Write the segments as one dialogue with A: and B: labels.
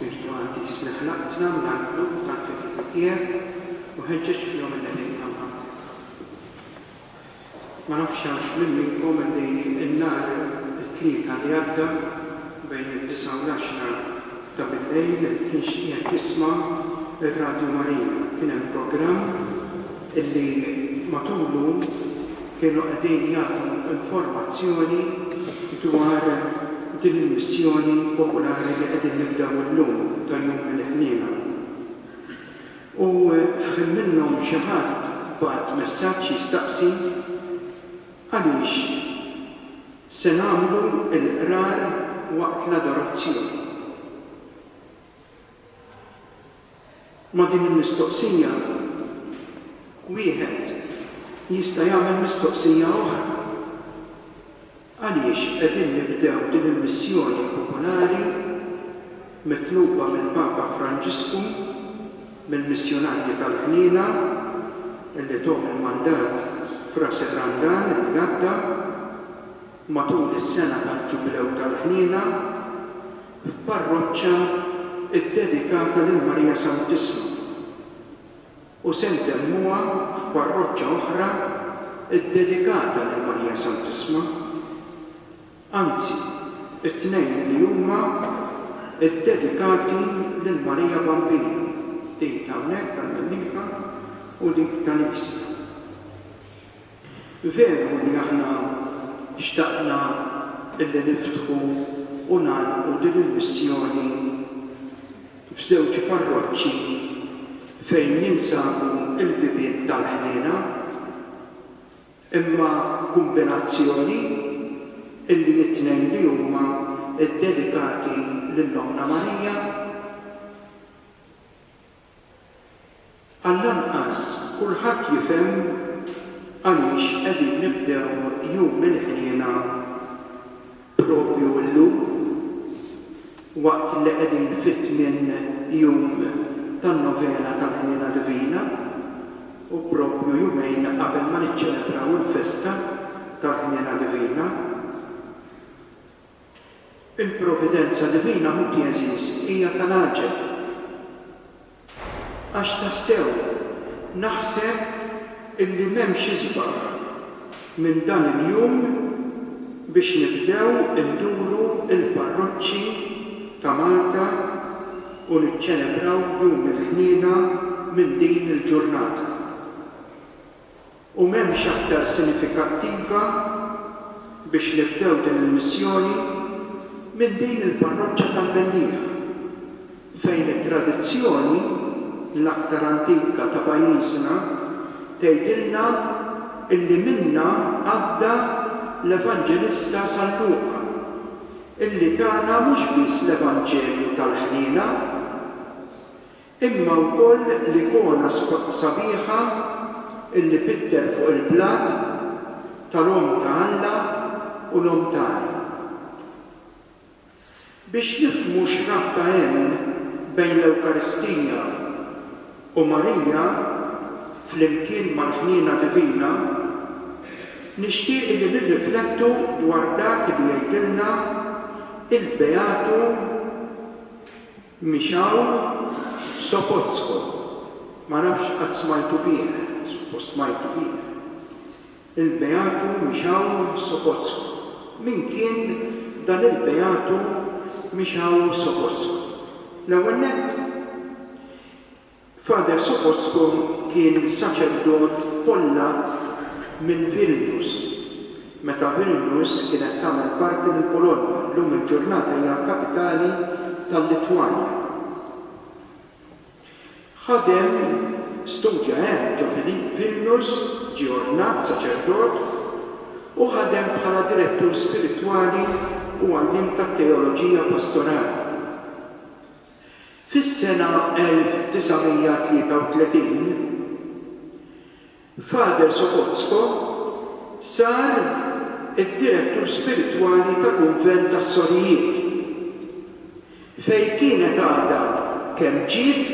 A: spiritwali isna' ħlaqtna mill-għarqlub tal-fedili tiegħek u ħeġġeġ fihom il-leħen tagħhom. Ma nafx hawnx min minnkom li n-nhar it-Tlieta li għadda bejn id-disgħa u l-għaxra ta' bil-lejl kienx qiegħed jisma' r-Radju Marija. Kien hemm programm li matulu kienu qegħdin jagħtu informazzjoni dwar din il-missjoni popolari li qegħdin nibdew illum ta' Jum il-Ħniena. U f'ħin minnhom xi ħadd bagħat messaġġ jistaqsi għaliex se nagħmlu l-Qrar waqt l-adorazzjoni. Ma' din il-mistoqsija, wieħed jista' jagħmel mistoqsija oħra, Għaliex qegħdin nibdew din il-missjoni popolari mitluba mill-Papa Franġisku mill-missjunarji tal-Ħniena li tuhom il-mandat f'Ras ir-Randan, il-Għadda? Matul is-sena tal-Ġubilew tal-Ħniena, f'parroċċa ddedikata lil Marija Santissima, u se ntemmuha f'parroċċa oħra ddedikata lil Marija Santissma, anzi, it-tnejn li huma ddedikati lil Marija Bambina, din t'hawnhekk tal-Mellieħa u dik tal-Għisja. Veru li aħna xtaqna li niftħu u nagħlqu din il-missjoni f'żewġ parroċċi fejn jinsabu l-bibien tal-ħniena, imma kumbinazzjoni illi t-tnejn li huma ddedikati lil Ommna Marija, Għall-anqas kulħadd jifhem għaliex qegħdin nibdew Jum il-Ħniena propju llum, waqt li qegħdin fit-tmien jum tan-Novena tal-Ħniena Divina u propju jumejn qabel ma niċċelebraw il-festa tal-Ħniena Divina. Il-providenza divina, ħuti għeżież, hija tal-għaġeb. Għax tassew naħseb illi m'hemmx isbaħ minn dan il-jum biex nibdew induru l-parroċċi ta' Malta u niċċelebraw Jum il-Ħniena minn din il-ġurnata. U m'hemmx aktar sinifikattiva biex nibdew din il-missjoni minn din il-parroċċa tal-Mellieħa, fejn it-tradizzjoni l-aktar antika ta' pajjiżna tgħidilna illi minnha għadda l-Evanġelista San Luqa, illi tana mhux biss l-Evanġelju tal-ħniena, Imma wkoll l-ikona sabiħa illi pitter fuq il-blat tal-Omm ta' Alla u l-Omm tagħna. Biex nifhmu x'rabta hemm bejn l-Ewkaristija u Marija flimkien mal-ħniena divina, nixtieq illi nirriflettu dwar dak li jgħidilna il-Beatu Michał Sopocko, ma nafx qatt smajtu bih, suppost smajtu bih. Il-Beatu Michał Sopocko. Min kien dan il-Beatu Michał Sopocko? L-ewwel nett, Father Sopocko kien saċerdot Pollakk minn Vilnius, meta Vilnius kienet tagħmel parti mill-Polonja, llum il-ġurnata hija l-kapitali tal-Litwanja. Ħadem, studja hemm ġo Vilnius, ġie ordnat saċerdot, u ħadem bħala direttur spiritwali u għalliem tat-teoloġija pastorali. Fis-sena 1933, Father Sokotsko sar id-direttur spiritwali ta' kunvent tas-sorijiet, fejn kienet għadha kemm ġiet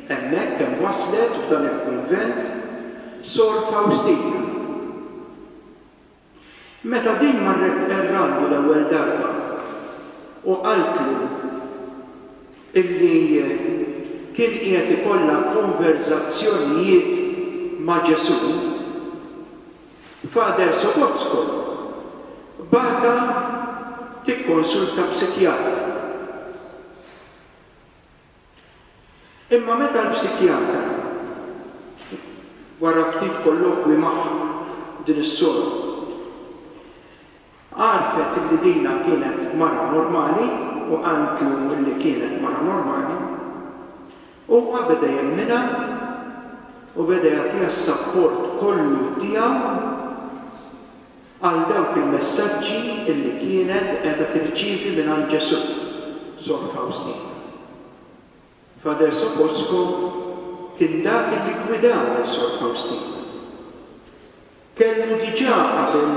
A: hemmhekk, kemm waslet f'dan il-kunvent, Sor Fawstina. Meta din marret tqerrandu l-ewwel darba u qaltlu illi kien qiegħed ikollha konverżazzjonijiet ma' Ġesù, Father Sobotzko bagħatha tikkonsulta psikjatra. Imma meta l-psikjatra wara ftit kollokwi magħha din is-sora għarfet li dina kienet mara normali u qaltlu li kienet mara normali, huwa beda jemminha u beda jagħtiha s-sapport kollu tiegħu. għal dawk il-messaġġi li kienet qiegħda tirċievi mingħand Ġesù, Sor Fawstina. Father Sopoćko kien dak li ggwidaw lil Sor Fawstina. Kellu diġà qabel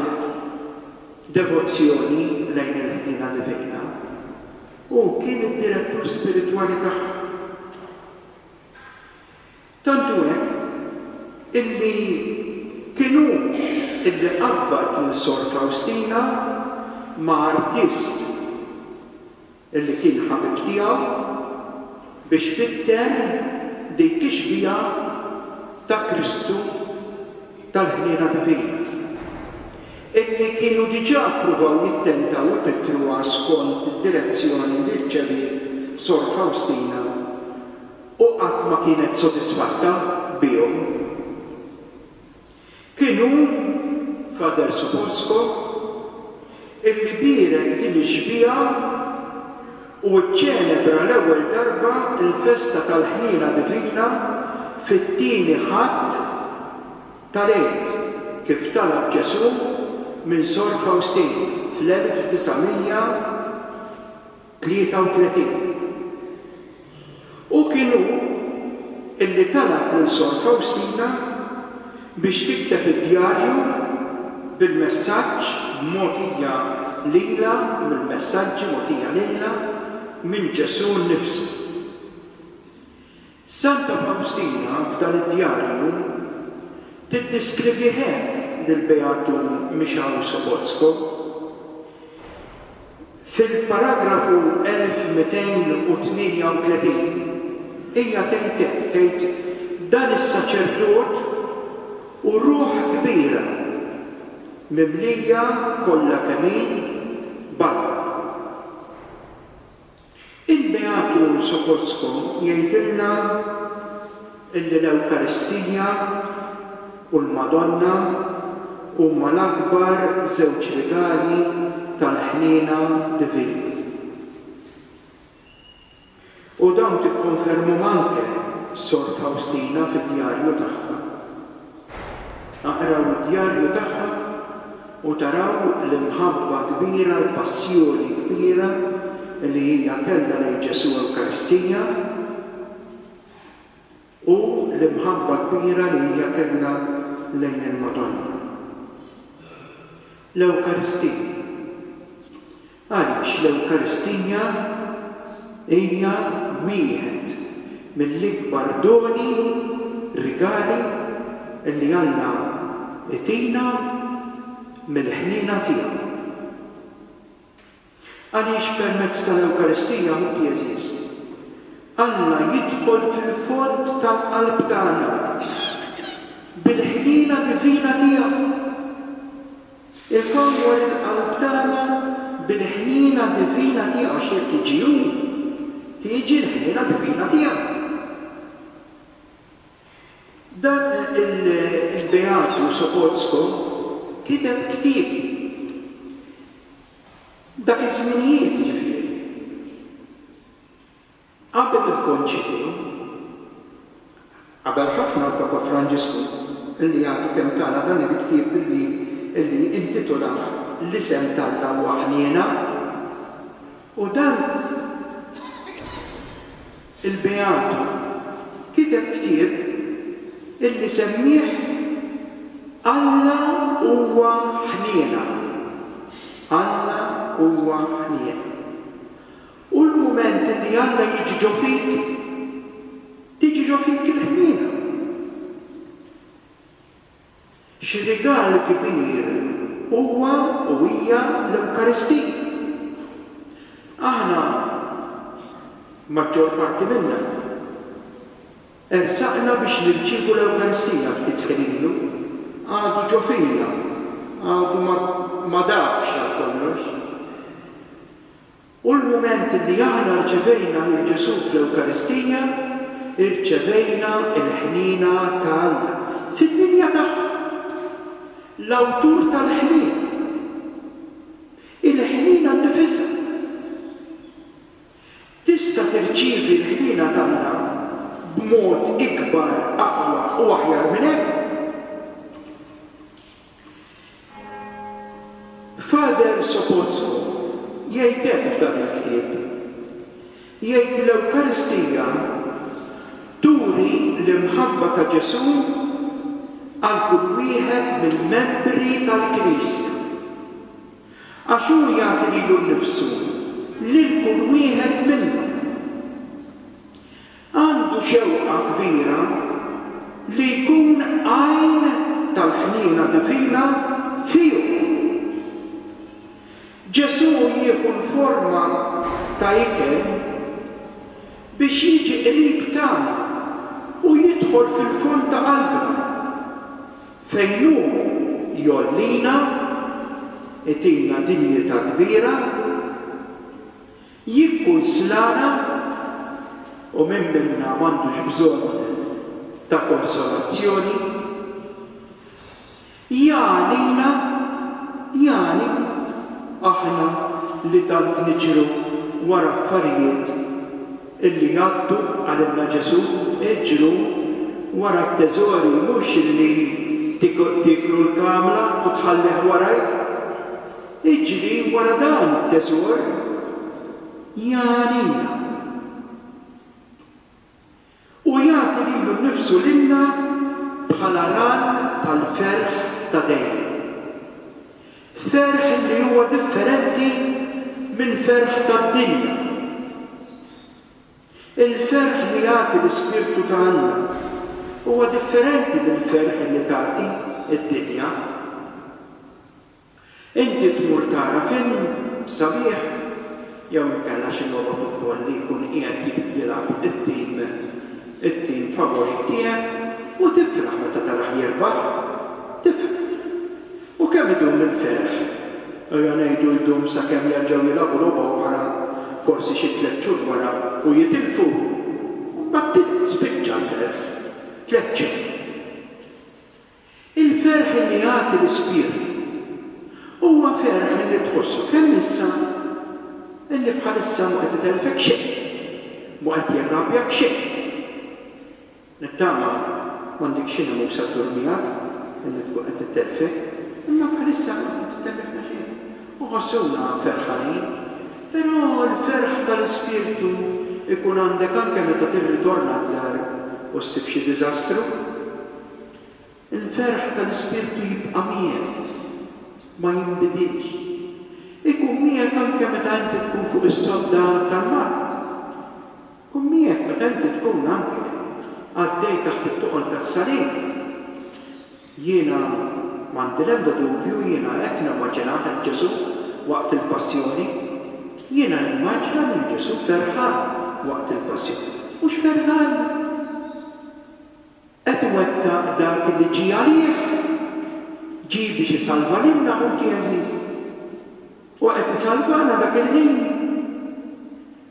A: devozzjoni lejn il-Ħniena Divina u kien id-direttur spiritwali tagħha. Tant hu hekk, illi kien hu illi qabbad lil Sor Fawstina ma' artist illi kien ħabib tiegħu biex fitten dik ix-xbieha ta' Kristu tal-Ħniena Divina, illi kienu diġà ppruvaw jittentaw ipittruha skont id-direzzjoni li rċeviet Sor Fawstina u qatt ma kienet sodisfatta bihom. Kien hu, Father Suchosko, illi bierek din ix-xbieha u ċċelebra l-ewwel darba l-festa tal-Ħniena Divina fit-Tieni Ħadd tal-Għid, kif talab Ġesù minn Sor Faustin fl-1900. 33 U kien hu li talab lil Sor Fawstina biex tikteb id-djarju bil-messaġġ mogħtija lilha mill-messaġġi mogħtija lilha minn Ġesù nnifsu. Santa Fawstina f'dan id-djarju tiddiskrivih hekk lill-Beatu Michał Sobocko, fil-paragrafu 1238, hija tgħid hekk, tgħid, Dan is-saċerdot hu ruħ kbira, mimlija kollha kemm hi b'Alla. Il-Beatu Sokocko jgħidilna li l-Ewkaristija u l-Madonna huma l-akbar żewġ rigali tal-ħniena divina. U dawn tikkonfermhom anke Sor Fawstina fid-djarju tagħha. Aqraw id-djarju tagħha u taraw l-imħabba kbira, l-passjoni kbira li hija kellha lejn Ġesù Ewkaristija u l-imħabba kbira li hija kellha lejn il-Madonna. L-Ewkaristija. Għaliex l-Ewkaristija hija wieħed mill-ikbar doni, rigali, li Alla jtina mill-ħniena tiegħu. Għaliex permezz tal-Ewkaristija, ħuti għeżież, Alla jidħol fil-fond tal-qalb tagħna bil-ħniena divina tiegħu. Ifawwar il-qalb tagħna bil-ħniena divina tiegħu għax jekk jiġi hu, tiġi l-ħniena divina tiegħu. Dan il-beatu Sopocko kiteb ktieb dak iż-żminijiet, jiġifieri. Qabel il-Konċilju, qabel ħafna l-Papa Franġisku, li għadu kemm tana dan il-ktieb li li intitolah L-Isem t'Alla Huwa Ħniena, u dan il-Beatu kiteb ktieb li semmieh Alla Huwa Ħniena, Alla Huwa Ħniena. Hu l-mument li Alla jiġġo fik, tiġġo fik il-ħniena. Xi rigal kbir huwa u hija l-Ewkaristija. Aħna, maġġor parti minna, ersaqna biex nirċievu l-Ewkaristija ftit ħin ilu, għadu ġo fina, għadu ma dabx għal kollox. U l-mument li aħna rċevejna lil Ġesù fl-Ewkaristija, irċevejna l-ħniena ta' Alla fil-linja tagħha, l-Awtur tal-ħniena, il-ħniena nnifisha. Tista' tirċievi l-ħniena t'Alla b'mod ikbar, aqwa u aħjar minn hekk? Father Sopocko jgħid hekk f'dan il-ktieb, jgħid l-Ewkaristija turi l-imħabba ta' Ġesù għal kull wieħed mill-membri tal-Knisja, għax hu jagħti lilu nnifsu lil kull wieħed minnhom. Għandu xewqa kbira li jkun għajn tal-ħniena divina fihom. Ġesù jieħu l-forma ta' ikel biex jiġi qrib tagħna u jidħol fil-fond ta' qalbna, fejn hu jgħollina, itina dinjità kbira. Jikkunslana, u min minna m'għandux bżonn ta' konsolazzjoni? Jagħnina, jagħni, aħna li tant niġru wara affarijiet illi jgħaddu, qalilna Ġesù, iġru wara t-teżori mhux illi tieklu l-kamla u tħallih warajk. Iġri wara dan it-teżor ja għalina. U jagħti lilu nnifsu lilna bħala ral tal-ferħ ta' dejjem. Ferħ li huwa differenti mill-ferħ tad-dinja. Il-ferħ li jagħti l-Ispirtu ta' Alla huwa differenti mill-ferħ li tagħti d-dinja. Inti tmur tara film sabiħ jew inkella xi logħba futbol li jkun qiegħed jilgħab it-tim it-tim favorit tiegħek u tifraħ meta tarah jirbaħ. Tifraħ. U kemm idum il-ferħ? Ejja ngħidu jdum sakemm jerġgħu jilgħabu logħba oħra, forsi xi tliet xhur wara, u jitilfu. U mbagħad tilfu, spiċċa l-ferħ. Tliet xhur. Il-ferħ li jagħti l-ispirtu huwa ferħ li tħossu kemm issa li bħalissa mhu qed itellfek xejn, mhu qed jirrabjak xejn. Nittama m'għandek xi nemusa ddur miegħek li tkun qed itellfek, imma bħalissa mhu qed itellifna xejn u nħossuna ferħanin. Però l-ferħ tal-ispirtu jkun għandek anke meta tirritorna d-dar u ssib xi diżastru. Il-ferħ tal-Ispirtu jibqa' miegħek, ma jinbidilx. Ikun miegħek anke meta inti tkun fuq is-sodda tal-mard. Ikun miegħek meta inti tkun anke għaddej taħt it-toqol tas-salib. Jiena m'għandi l-ebda dubju, jiena hekk nimmaġinah lil Ġesù waqt il-Passjoni. Jiena nimmaġna lil Ġesù ferħan waqt il-Passjoni. Mhux ferħan? Qed iwettaq dak li ġie għalih, ġie biex isalva lilna ħuti għeżież. U qed isalvana dak il-ħin.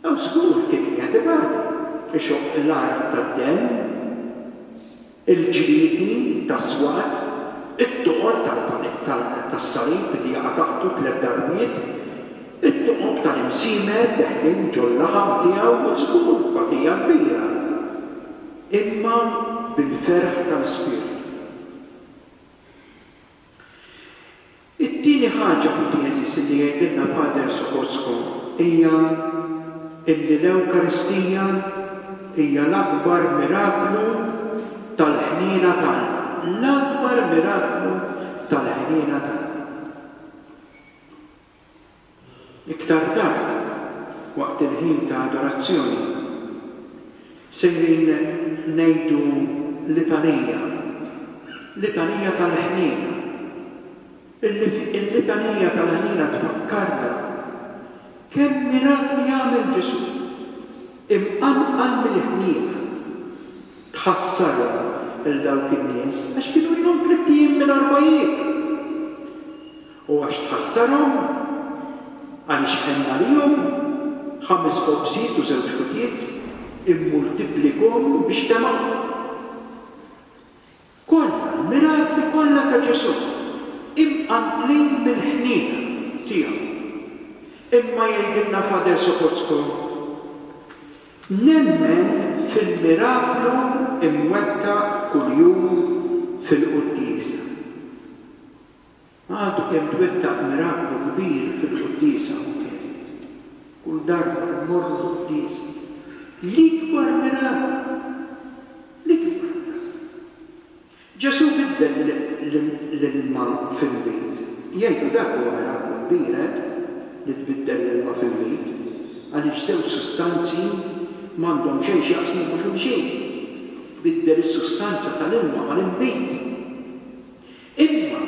A: Hawn żgur kien qiegħed ibati, ixoqq l-art tad-demm, il-ġriedni tas-swat, it-toqob tas-salib li jaqa' taħtu tliet darbiet, it-toqob tal-imsiemer deħlin ġol-laħam tiegħu, żgur batija kbira. imma bil-ferħ tal-ispirtu. It-tieni ħaġa, ħuti għeżieżi, li jgħidilna Father Sokocko hija illi l-Ewkaristija hija l-akbar miraklu tal-ħniena ta' Alla, l-akbar miraklu tal-ħniena ta' Alla. Iktar tard, waqt il-ħin ta' adorazzjoni, sejrin ngħidu litanija, litanija tal-ħniena. Il-litanija tal-ħniena tfakkarna kemm mirakli għamel Ġesù. Imqanqal mill-ħniena, tħassarhom lil dawk in-nies għax kienu ilhom tlitt ijiem mingħajr ma jieklu. U għax tħassarhom, għaliex ħenn għalihom, ħames ħobżiet u żewġ ħutiet immultiplikhom biex temgħuhom. Kollha, l-mirakli kollha ta' Ġesù, imqanqlin mill-ħniena tiegħu. Imma jgħidilna Fader Sopocko, Nemmen fil-miraklu imwettaq kuljum fil-quddiesa. Għadu kemm twettaq miraklu kbir fil-quddiesa hawnhekk. Kull darba li mmorru l-quddiesa, l-ikbar miraklu! L-ikbar miraklu! Ġesù biddel l-ilma fil-miet. Jgħidu dak huwa miraklu kbir, eh, li tbiddel l-ilma fil-miet, għaliex żewġ sustanzi m'għandhom xejn x'jaqsmu ma' xulxin. Tbiddel is-sustanza tal-ilma mal-inbid. Imma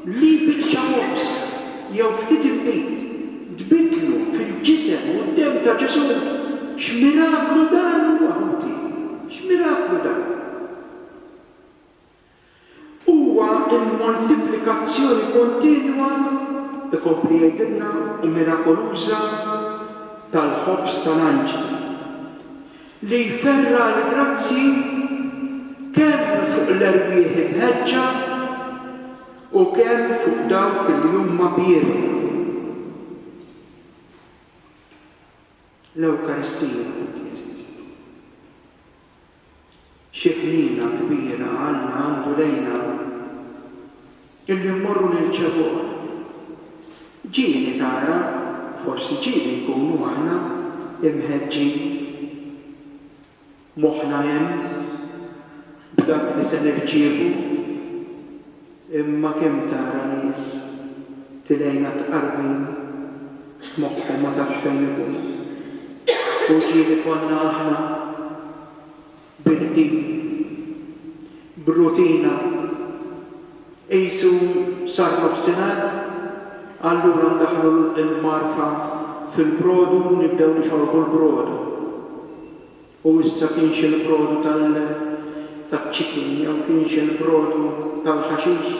A: li biċċa ħobż jew ftit inbid tbiddlu fil-ġisem u d-demm ta' Ġesù, x'miraklu dan huwa, ħuti! X'miraklu dan! Huwa l-moltiplikazzjoni kontinwa, ikompli jgħidilna, u mirakoluża tal-ħobż tal-anġli. li jferra' l-grazzji kemm fuq l-erwieħ imħeġġa u kemm fuq dawk li huma bierri. L-Ewkaristija. Xi ħniena kbira Alla għandu lejna, illi mmorru nirċevuh! Ġieli tara, forsi ġieli nkunu aħna mħeġġin, moħħna hemm, b'dak li se nirċievu, imma kemm tara nies tilgħinha tqarbin, moħħhom ma tafx fejn ikun. U ġieli konna aħna! b'irqid, b'rutina, qisu sar nofsinhar, allura ndaħħlu l-marfa fil-brodu u nibdew nixorbu l-brodu. U issa kienx il-brodu taċ-chicken jew kienx il-brodu tal-ħaxix,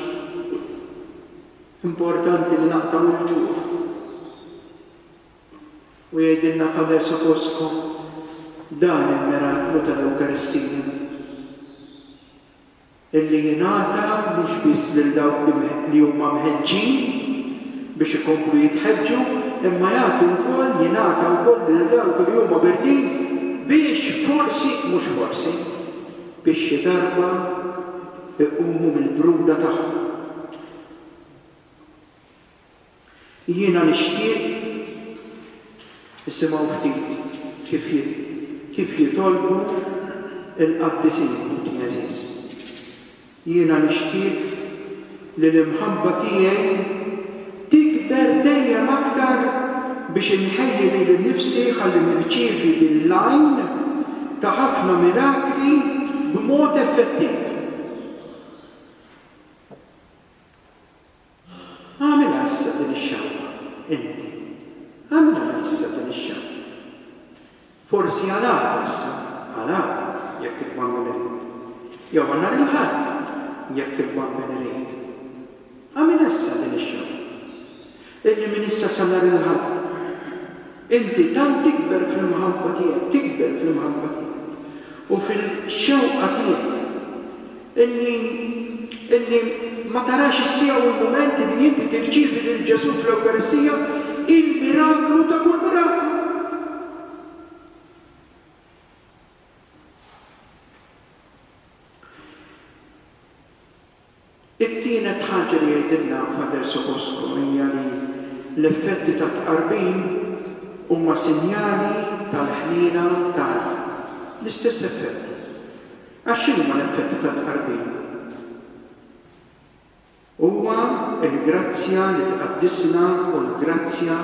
A: importanti li naqtgħu l-ġuħ. U jgħidilna f'Aver sa fostkom dan il-miraklu tal-Ewkaristija, illi jingħata mhux biss lil dawk li huma mħeġġin biex ikomplu jitħeġġu, imma jagħti wkoll, jingħata wkoll lil dawk li huma birdin biex forsi, mhux forsi, biex xi darba jqumu mill-bruda tagħhom. Jiena nixtieq isimgħu ftit kif kif jitolbu l-qaddisin ħuti għeżież. Jiena nixtieq li l-imħabba tiegħi tikber dejjem aktar biex inħejji lili nnifsi ħalli nirċievi din l-għajn ta' ħafna mirakli b'mod effettiv. Agħmilha issa din ix-xahra, inti. Agħmilha minn issa din ix-xahra. Forsi għal għada issa, għal għada, jekk tibqa' minn irid. Jew għal nhar il-Ħadd, jekk tibqa' minn irid. Agħmilha issa din ix-xahra. Illi minn issa sa nhar il-Ħadd. Inti tant tikber fl-imħabba tiegħi, tikber fl-imħabba tiegħi u fil-xewqa tiegħi illi, illi ma tarax is-siegħa u l-mument illi inti tirċievi lil Ġesù fl-Ewkaristija, il-miraklu ta' kull miraklu. It-tielet ħaġa li jgħidilna Father Socosco hija li l-effetti tat-tqarbin huma sinjali tal-ħniena t'Alla. L-istess effetti. Għax x'inhuma l-effetti tat-tqarbin? Huwa l-grazzja li tqaddisna u l-grazzja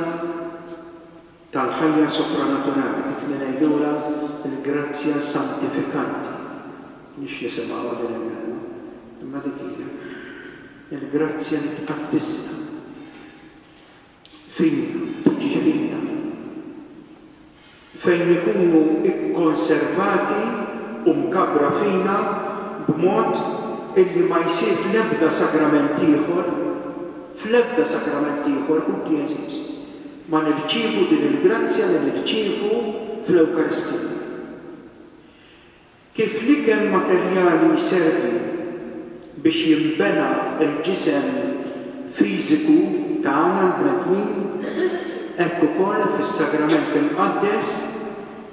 A: tal-ħajja sopranaturali kif ningħidulha l-grazzja santifikanti, m'hiex nisimgħuha din il-kelma, imma dik hija, il-grazzja li tqaddisna, fina, tiġi fina, fejn ikunu kkonservati u mkabbra fina b'mod illi ma jsir fl-ebda sagrament ieħor, fl-ebda sagrament ieħor, hu d-dijażiż. ma nirċievu din il-grazzja li nirċievu fl-Ewkaristija. Kif l-ikel materjali jservi biex jinbena l-ġisem fiżiku tagħna l-bnedmin, hekk ukoll fis-Sagrament Imqaddes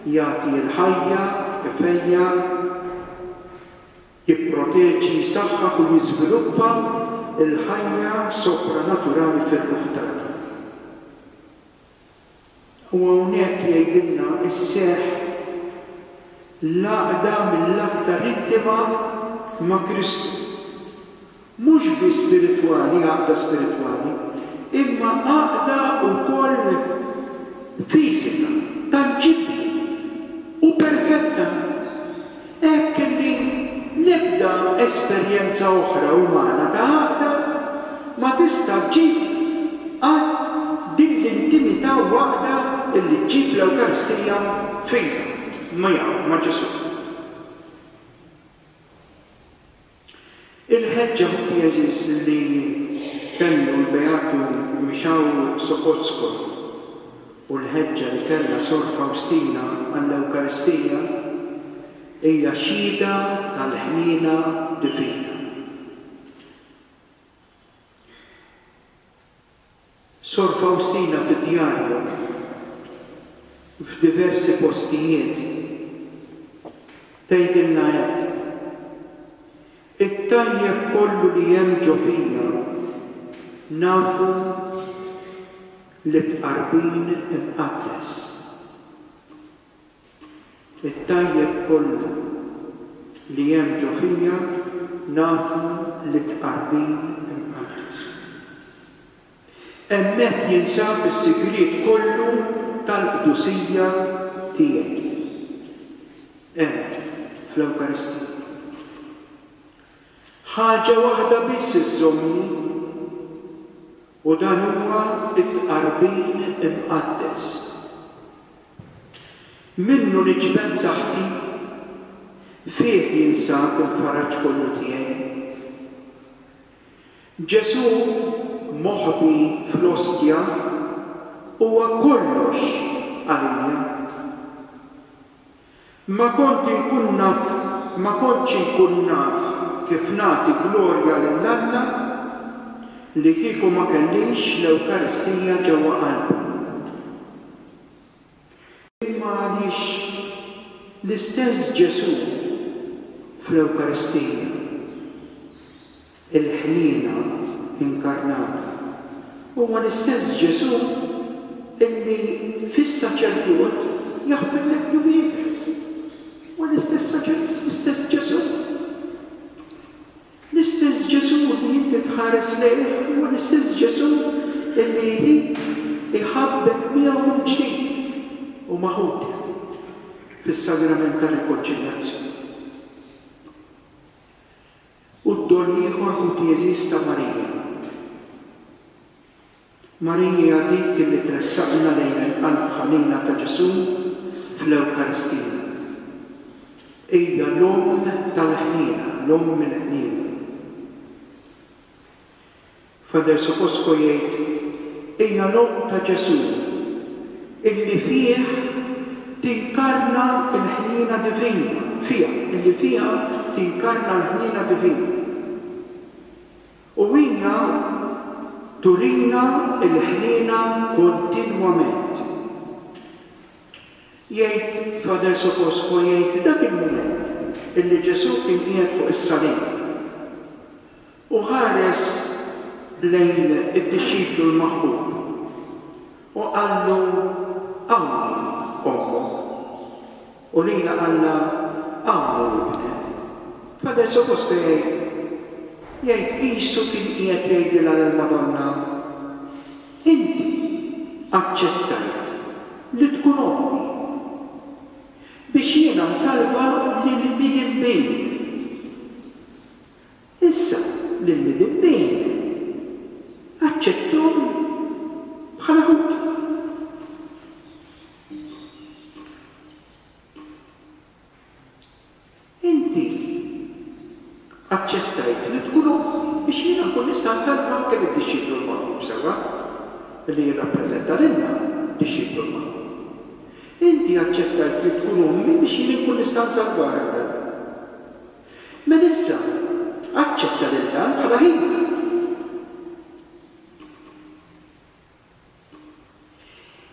A: jagħti l-ħajja, ifejjaq, Jipproteġi, jsaħħaħ u jiżviluppa l-ħajja sopranaturali fir-ruħ tagħna. U hawnhekk jgħidilna sseħħ l-għaqda mill-aktar intima ma' Kristu. Mhux biss spiritwali, għaqda spiritwali, imma għaqda wkoll fiżika, tanġibbli u perfetta, hekk li l-ebda esperjenza oħra umana ta' għaqda ma tista' ġġib qatt din l-intimità u għaqda li ġġib l-Ewkaristija fina, miegħu, ma' Ġesù. Il-ħeġġa ħuti għeżież li kellu l-Beatu Michał Sopocko u l-ħeġġa li kellha Sor Fawstina għall-Ewkaristija hija xhieda tal-ħniena divina. Sor Fawstina fid-djarju, f'diversi postijiet, tgħidilna hekk, It-tajjeb kollu li hemm ġo fija, nafu li b'qarbin imqaddes. It-tajjeb kollu li hemm ġo fija nafu li tqarbin imqaddes. Hemmhekk jinsab is-sigriet kollu tal-qdusija tiegħi. Hemm, fl-Ewkaristija. Ħaġa waħda biss iżżommni. U dan huwa t-tqarbin imqaddes. Minnu niġbed saħħti, fih jinsab il-faraġ kollu tiegħi. Ġesù moħbi fl-Ostja huwa kollox għalija. Ma kont inkun naf ma kontx inkun naf kif nagħti glorja lil Alla li kieku ma kellix l-Ewkaristija ġewwa qalbi. Imma għaliex l-istess Ġesù fl-Ewkaristija il-Ħniena inkarnata. Huwa l-istess Ġesù illi fis-saċerdot jaħfirlek dnubietek. Huwa l-istess saċerdot, l-istess Ġesù. L-istess Ġesù li inti tħares lejh huwa l-istess Ġesù illi jrid iħabbek miegħu mill-ġdid u ma' ħutek fis-Sagrament tar-Rikonċiljazzjoni. U d-don l-ieħor hu d-dieżiż ta' Marija. Marija dik li tressaqna lejn il-Qalb Ħanina ta' Ġesù fl-Ewkaristija. Hija l-Omm tal-ħniena, l-Omm il-ħniena. Father Supposco jgħid, Hija l-Omm ta' Ġesù, illi fih tinkarna l-ħniena divina, fiha, illi fiha tinkarna l-ħniena divina. U hija turina l-ħniena kontinwament. Jgħid, Father Supposco jgħid, dak il-mument illi Ġesù kien qiegħed fuq is-salib, U ħares lejn id-dixxiplu l-maħbub, u qallu, Hawnhi ommok, u lilha qallha, Hawnhu ibnek. Fader supposto jgħid, jgħid qisu kien qiegħed jgħidilha lill-Madonna, Inti aċċettajt li tkun ommi, biex jiena nsalva lil min inbin. Issa li l-Midinbin aċċetthom bħala Lhud. Inti aċċettajt li tkun omm biex jiena nkun nista' nsalva anke lid-dixxiplu l-magħqub sewwa, li jirrappreżenta lilna, dixxiplu l-magħqub. Inti aċċettajt li tkun ommi biex jien inkun nista' nsalvah, Ewwel. Mela issa, aċċetta lil dan bħala ħidma.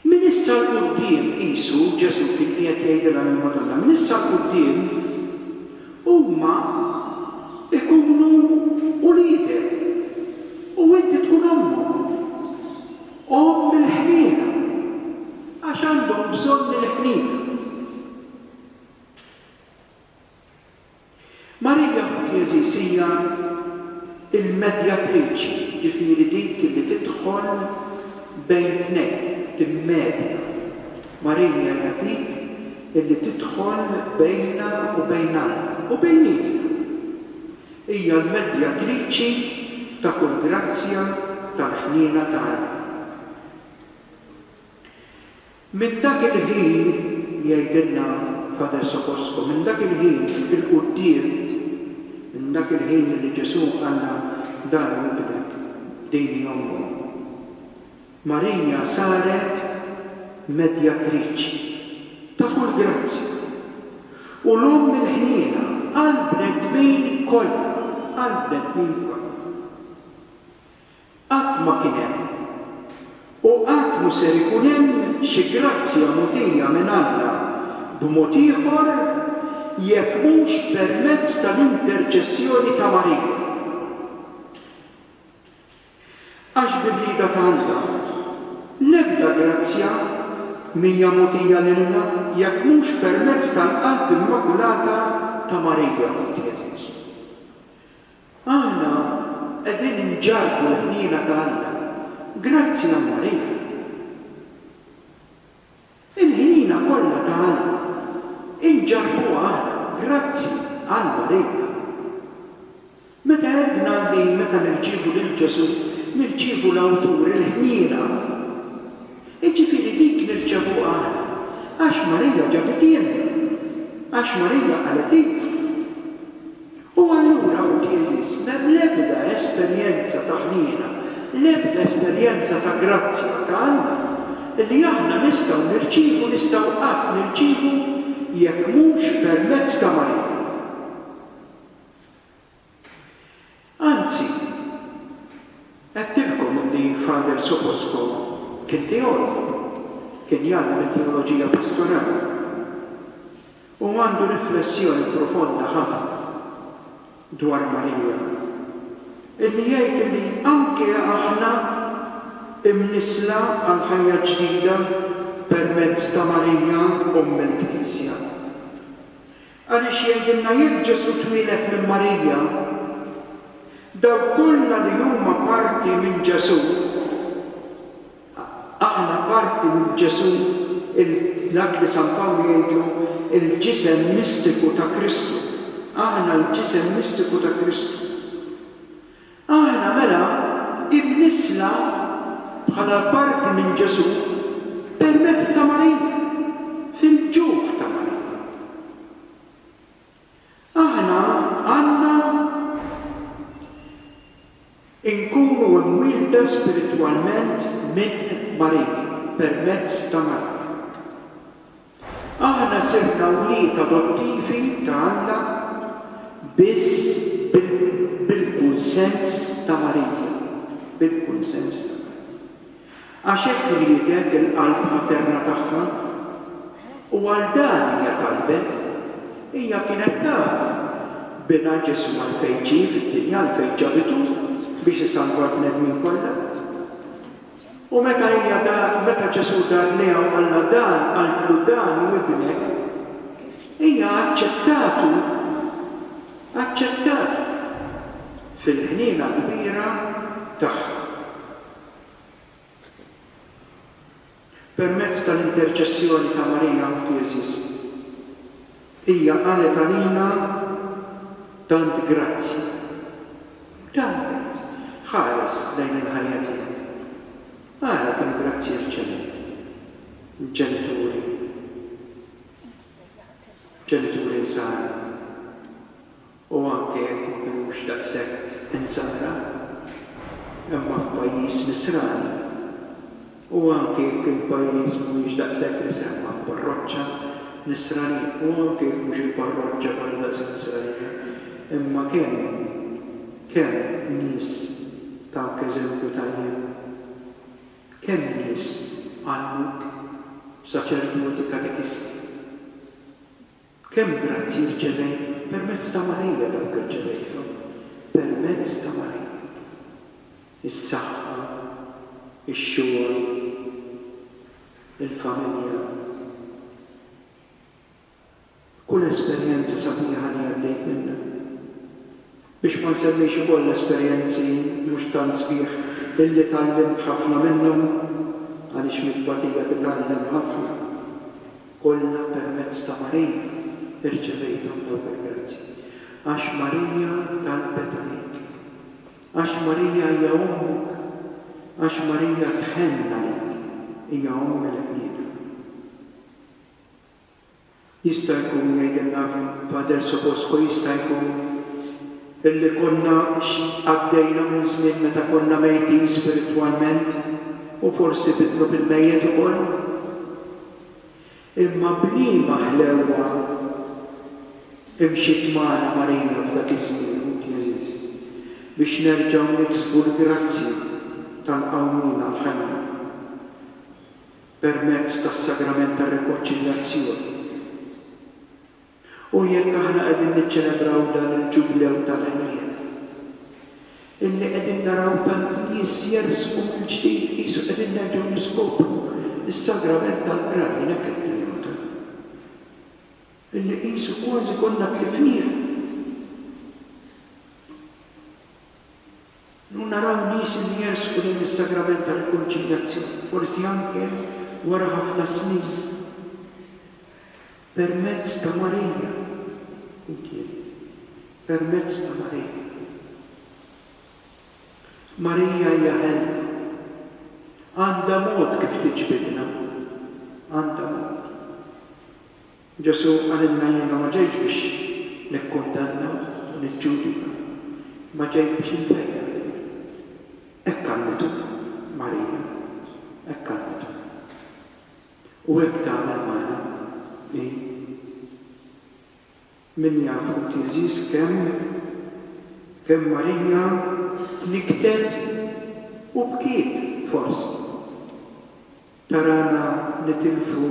A: Minn issa 'l quddiem, qisu, Ġesù kien qiegħed jgħidilha lill-Madonna, minn issa 'l quddiem huma jkunu uliedek u inti tkun ommhom, omm il-ħniena, għax għandhom bżonn il-ħniena. Maria Kukieziishija l-medjatriċi, jiġifieri dik li tidħol bejn tnejn, timmedja. Maria hija dik li tidħol bejna u bejn Alla, u bejnietna. Hija l-medjatriċi ta' kull grazzja tal-ħniena ta' Alla. Minn dak il-ħin, jgħidilna Father Socosco, minn dak il-ħin 'il quddiem, minn dak il-ħin milli Ġesù qalna dan hu ibnek, din hi ommok, Marija saret medjatriċi ta' kull grazzja u l-omm il-ħniena għall-bnedmin kollha, għall-bnedmin kollha. Qatt ma kien hemm. U qatt mhu ser ikun hemm xi grazzja mogħtija minn Alla b'mod ieħor jekk mhux permezz tal-interċessjoni ta' Marija. Għax bi rieda ta' Alla, l-ebda grazzja m'hija mogħtija lilna jekk mhux permezz tal-Qalb Immakulata ta' Marija. Aħna qegħdin inġarrbu l-ħniena ta' Alla grazzi għal Marija. Il-ħniena kollha ta' Alla inġarrbuha aħna grazzi għal Marija. Meta għedna li meta nirċievu lil Ġesù nirċievu l-Awtur il-ħniena, jiġifieri dik nirċevuha aħna għax Marija ġabithielna, għax Marija qalet iva. U allura ħuti għeżież, m'hemm l-ebda esperjenza ta' ħniena, l-ebda esperjenza ta' grazzja ta' Alla li aħna nistgħu nirċievu, nistgħu qatt nirċievu jekk mhux permezz ta' Marija. Anzi, għedtilkom li Father Soposko kien teologu, kien jgħallem it-teoloġija pastorali. Hu għandu riflessjoni profonda ħafna dwar Marija, illi jgħid illi anke aħna imnissla għal ħajja ġdida permezz ta' Marija Omm il-Knisja. Għaliex jgħidilna jekk Ġesù twieled minn Marija, dawk kollha li huma parti minn Ġesù Aħna parti minn Ġesù, l-att li San Pawlu jgħidlu l-ġisem mistiku ta' Kristu. Aħna l-ġisem mistiku ta' Kristu. Aħna mela imnissla bħala parti minn Ġesù permezz ta' Marija, fil-ġuf ta' Marija. Aħna għandna nkunu imwielda spiritwalment minn Marija, permezz ta' Marija. Aħna sirna wlied adottivi ta' Alla biss bil-kunsens ta' Marija, bil-kunsens ta' Marija. Għax hekk riedet il-qalb materna tagħha, u għal dan hija talbet. Hija kienet taf Binha Ġesù għalfejn ġie fid-dinja, għalfejn ġabitu, biex isalva l-bnedmin kollha. U meta hija dar, meta Ġesù dar lejha u qallha dan, qaltlu dan hu ibnek, hija aċċettatu, aċċettatu fil-ħniena kbira tagħha. Permezz tal-interċessjoni ta' Marija u t'Jeżus, hija qalet għalina tant grazzji. Dan jgħid, Ħares lejn il-ħajja tiegħi. Ara kemm grazzji rċevejt. Ġenituri, ġenituri nsara. u anke jekk ma kinux daqshekk insara, imma f'pajjiż nisrani, u anke jekk il-pajjiż mhuwiex daqshekk misemma f'parroċċa nisranija, u anke jekk mhux il-parroċċa kollha daqshekk nisranija, imma kemm, kemm nies tawk eżempju tajjeb, kemm nies għallmuk, saċerdoti, katekisti. Kemm grazzji rċevejt permezz ta' Marija dawk irċevejthom permezz ta' Marija. Is-saħħa, ix-xogħol, il-familja, kull esperjenza sabiħa li għaddejt minnha. Biex ma nsemmix ukoll esperjenzi mhux tant sbieħ illi tgħallimt ħafna minnhom, għaliex mit-tbatija titgħallem ħafna, kollha permezz ta' Marija irċevejthom dawk il-grazji. Għax Marija talbet għalik. Għax Marija hija ommok. Għax Marija tħenn għalik. Hija omm il-bniedem. Jista' jkun, jgħidilna Pader Soposko, jista' jkun illi konna għaddejna minn żmien meta konna mejtin spiritwalment u forsi bitnu bil-mejjet ukoll. Imma b'liema ħlewwa imxiet magħna Marija f'dak iż-żmien, Ħut Ġeżus, biex nerġgħu niksbu l-grazzja tal-qawmien għall-ħajja. permezz tas-Sagrament tar-Rikonċiljazzjoni. U jekk aħna qegħdin niċċelebraw dan il-Ġublew tal-ħniena, illi qegħdin naraw tanti nies jersqu mill-ġdid qisu qegħdin nerġgħu niskopru s-Sagrament tal-Qrar, jien hekk qed ninnota, illi qisu kważi konna tlifnieh. Illum naraw nies li jersqu lejn is-Sagrament ta' Rikonċiljazzjoni, forsi anke wara ħafna snin, permezz ta' Marija, quddiem, permezz ta' Marija. Marija hija ħelwa. Għandha mod kif tiġbidna. Għandha mod. Ġesù qalilna jiena ma ġejtx biex nikkundanna u niġġudika, imma ġejt biex infejjaq. Hekk għallmitu Marija, hekk għallmitu. U hekk tagħmel magħna hi. Min jaf inti għeżież kemm, kemm Marija tnikktet u bkiet forsi. Tarana nitilfu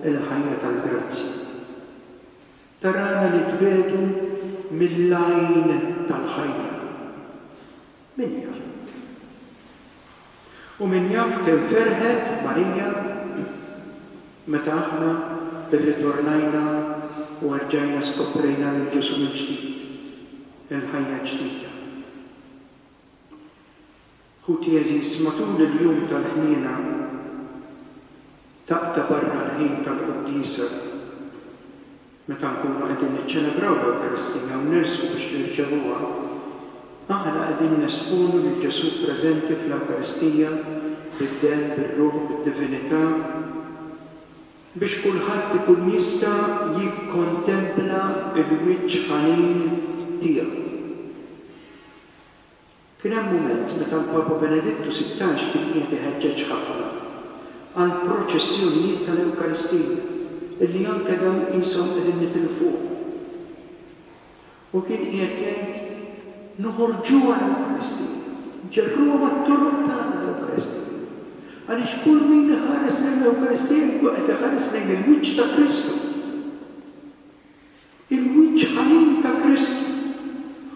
A: l-ħajja tal-grazzja. Tarana nitbiegħdu mill-għajn tal-ħajja. Min jaf? U min jaf kemm ferħet Marija meta aħna rritornajna u erġajna skoprejna lil Ġesù mill-ġdid, il-ħajja ġdida. Ħuti għeżież, matul il-Jum tal-Ħniena ta' ta' barra l-ħin tal-quddiesa, meta nkunu qegħdin niċċelebraw l-Ewkaristija u nersqu biex nirċevuha, aħna qegħdin nesponu lil Ġesù preżenti fl-Ewkaristija bid-Demm, bir-Ruħ, bid-Divinità, biex kulħadd ikun jista' jikkontempla l-wiċċ ħanin tiegħu. Kien hemm mument meta l-Papa Benedittu Sittax kien qiegħed iħeġġeġ ħafna għall-proċessjonijiet tal-Ewkaristija, illi anke dawn qishom qegħdin nitilfuhom, u kien qiegħed jgħid, Noħorġuha l-Ewkaristija, ġerruha mat-toroq tagħna l-Ewkaristija, għaliex kull min iħares lejn l-Ewkaristija jkun qed iħares lejn il-wiċċ ta' Kristu. Il-wiċċ ħanin ta' Kristu.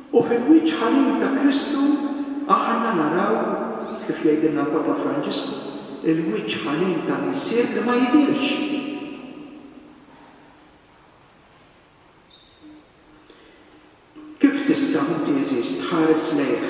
A: U fil-wiċċ ħanin ta' Kristu aħna naraw, kif jgħidilna l-Papa Franġisku, il-wiċċ ħanin tal-Missier li ma jidhirx. Kif tista' inti għeżież tħares lejh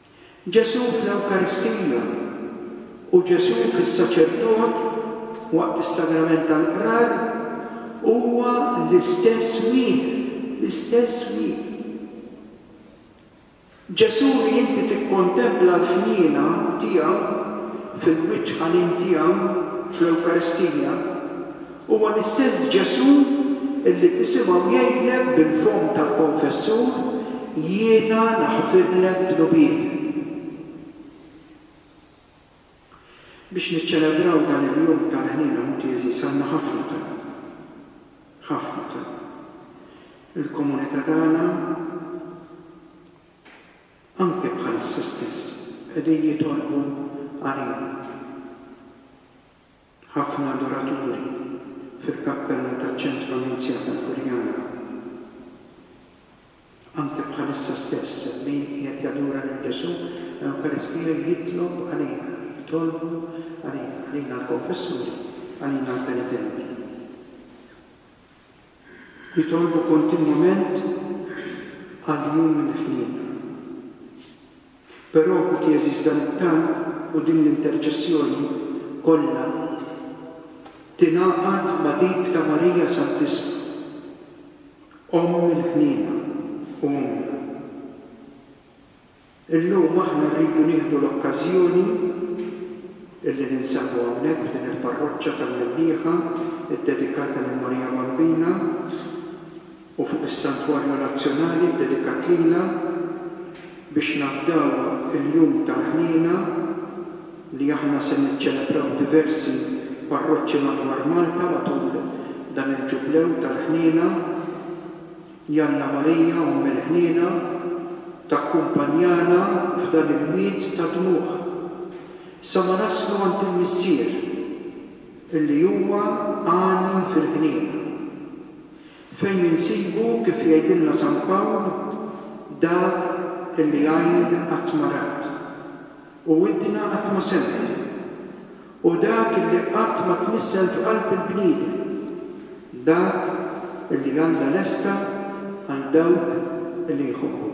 A: Ġesù fl-Ewkaristija u Ġesù fis-saċerdot waqt is-Sagrament tal-Qrar huwa l-istess wieħed, l-istess wieħed. Ġesù li inti tikkontempla l-ħniena tiegħu fil-wiċċ ħanin tiegħu fl-Ewkaristija, Huwa l-istess Ġesù li tisimgħu jgħidlek bil-fomm tal-konfessur, Jiena naħfirlek dnubietek. Biex niċċelebraw dan il-jum tal-Ħniena Mutiezis għandna ħafna talb. Ħafna talb. Il-komunità tagħna, anke bħalissa stess, qegħdin jitolbu għalina. Ħafna adoraturi fil-kappella taċ-Ċentru Annunzjata l-Furjana Anke bħalissa stess hemm min qiegħed jadura lil Ġesù, l-Ewkaristija jitlob għalina, jitolbu għalina, għalina l-konfessuri, għalina l-penitenti. Jitolbu kontinwament għall-jum mill-ħniena. Però, ħuti għeżież dan it-talb u din l-interċessjoni kollha tingħaqad ma' dik ta' Marija Santissma, Omm il-Ħniena u Ommna. Illum aħna rridu nieħdu l-okkażjoni li ninsabu hawnhekk f'din il-parroċċa tal-Minnieħa ddedikata lil Marija Bambina u fuq is-Santwarju Nazzjonali ddedikat lilha biex nafdaw il-Jum tal-Ħniena li aħna se niċċelebraw diversi parroċċi madwar Malta matul dan il-Ġublew tal-Ħniena. Jalla Marija Omm il-Ħniena takkumpanjana f'dan il-wied ta' dmugħ sa ma naslu għand il-Missier illi huwa għani fil-ħniena, fejn insibu kif jgħidilna San Pawl dak illi għajn qatt ma rat u widna qatt ma semgħet. Hu dak li qatt ma tnissel f'qalb il-bniedem, dak li Alla lesta għal dawk li
B: jħobbuh.